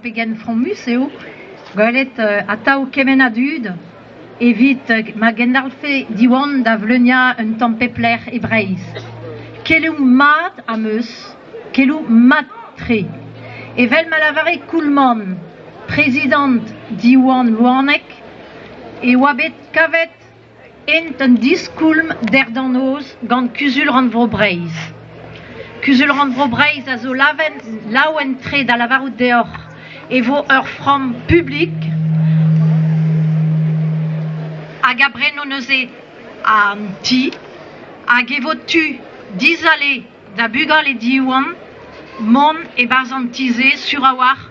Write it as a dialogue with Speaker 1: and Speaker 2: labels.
Speaker 1: Pegen fromus eo gwelet atav kement a dud evit ma gendalc'he Diwan da vleuniañ un tamm pep lec'h e Breizh. Keloù mat am eus, keloù mat-tre. Evel ma lavare Koulman, prezidant Diwan Louaneg, e oa bet kavet int un diskoulm derdañ-noz gant Kuzul-rannvro Breizh. Kuzul-rannvro Breizh a zo laouen-tre da lavarout deoc'h e vo ur framm publik hag a breno neuze an ti hag e vo tu dizale da bugale Diwan mont e-barzh an ti-se sur a-walc'h